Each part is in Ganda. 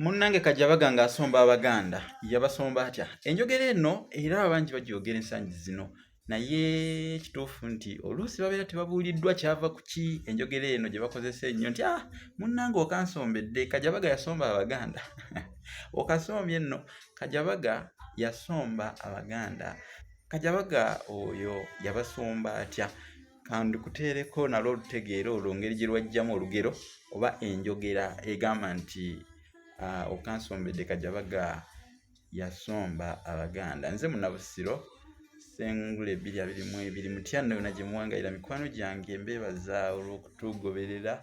munnange kajabaga nga asomba abaganda yabasomba atya enjogera eno era abangi bagyogera ensangi zino naye kituufu nti oluusi babeera tebabuuliddwa kyava ku ki enjogera eno gye bakozesa ennyo nti ah munnange okansombedde kajabaga yasomba abaganda okasombye nno kajabaga yasomba abaganda kajabaga oyo yabasomba atya kandikuteereko nalwo olutegeera olwo ngeri gye lwajjamu olugero oba enjogera egamba nti ah, okansombedde kajabaga yasomba abaganda nze munabusiro sengula ebiri abiri mu ebiri mutya nno yona gye muwangalira mikwano gyange mbeebaza olw'okutugoberera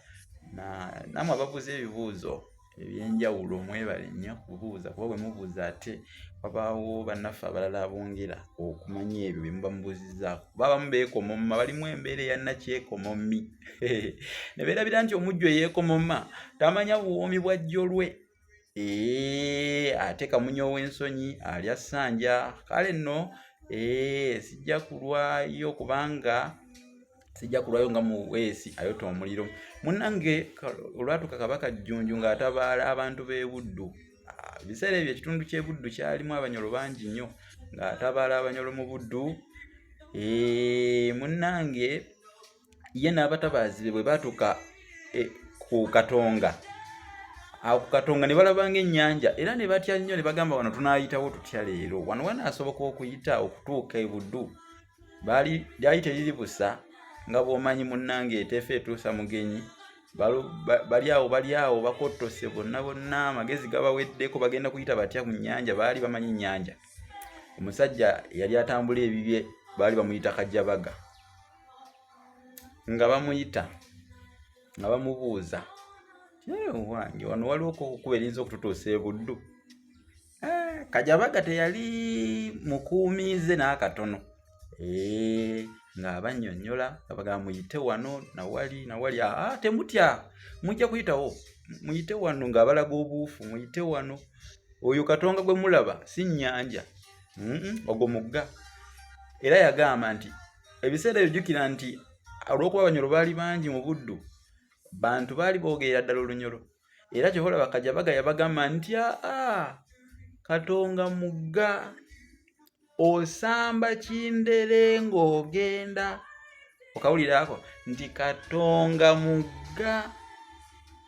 namwe ababuuza ebibuuzo ebyenjawulo mwebale nnyo kubuuza kuba bwe mubuuza ate wabaawo bannaffe abalala abongera okumanya ebyo bye muba mubuuzizzaako kuba abamu beekomomma balimu embeera eya nakyekomommi ne beerabira nti omujju eyeekomomma tamanya buwoomi bwa jjolwe ee ate kamunya ow'ensonyi alya ssanja kale nno ee sijja kulwayo kubanga sijja kulwayo nga muweesi ayota omuliro munange olwatuka kabaka jjunju ng'atabaala abantu b'ebuddu ah, ebiseera ebyo ekitundu ky'ebuddu kyalimu abanyolo bangi nnyo ng'atabaala abanyolo mu buddu eh, munange ye n'abatabaazi be bwe baatuka eh, ku katonga awo ku katonga ne balabanga ennyanja era ne batya nnyo ne bagamba wano tunaayitawo tutya leero wano wanaasoboka okuyita okutuuka ebuddu baali lyali teriri busa nga bwomanyi munnange eteefa etuusa mugenyi bali awo bali awo bakottose bonna bonna amagezi gabaweddeko bagenda kuyita batya ku nnyanja baali bamanyi nnyanja omusajja yali atambula ebibye baali bamuyita kajjabaga nga bamuyita nga bamubuuza wange wano waliwo okukuba erinza okututuusa ebuddu Eh, kajabaga teyali mukuumiize n'akatono eh, ng'abannyonnyola nga bagamba muyite wano nawali nawali aa ah, ah, temutya mujja kuyitawo muyite wano ng'abalaga obuufu muyite wano oyo katonga gwe mulaba si nnyanja ogwo mugga era yagamba nti ebiseera ebyo jjukira nti olw'okuba abanyolo baali bangi mu buddu bantu baali boogerera ddala olunyolo era kyohola bakaja bagaya bagamba nti aa katonga mugga osamba kindere ng'ogenda okawulira ako nti katonga mugga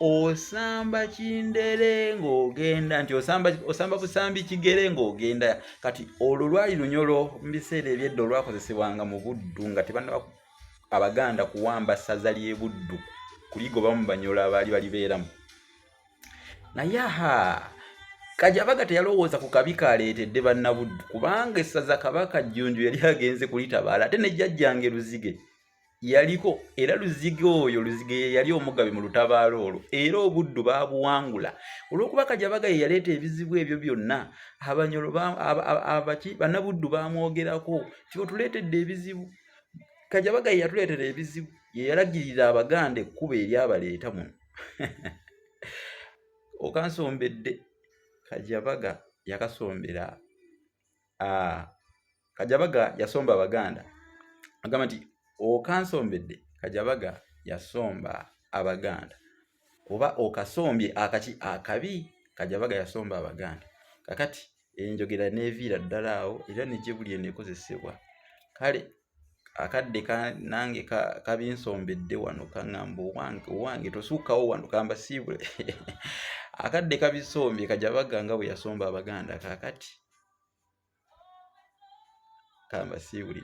osamba kindere ng'ogenda nti osamba osamba busambi kigere ng'ogenda kati olwo lwali lunyolo mu biseera ebyedda olwakozesebwanga mu buddu nga tebanaba abaganda kuwamba ssaza ly'e buddu kuligobamu banyola abaali balibeeramu naye aha kajabaga teyalowooza ku kabi kaleetedde bannabuddu kubanga essaza kabaka jjunju yali agenze kulitabaala ate ne jjajjange luzige yaliko era luzige oyo luzige ye yali omugabi mu lutabaalo olwo era obuddu baabuwangula olw'okuba kajabaga ye yaleeta ebizibu ebyo byonna abanyolo abaki bannabuddu baamwogerako nti otuleetedde ebizibu ba, kajabaga yeyatuleetera ebizibu yeyalagirira abaganda ekkuba eryabaleeta muno okansombedde kajabaga yakasombera ah, kajabaga yasomba abaganda agamba nti okansombedde kajabaga yasomba abaganda oba okasombye akaki akabi kajabaga yasomba abaganda kakati enjogera neviira ddala awo era negyebuli enekozesebwa kale akadde nange kabinsombedde wano kaŋamba owange tosuukawo wano kambasiibule akadde kabisombye kajabaga nga bwe yasomba abaganda kakati kambasiibuli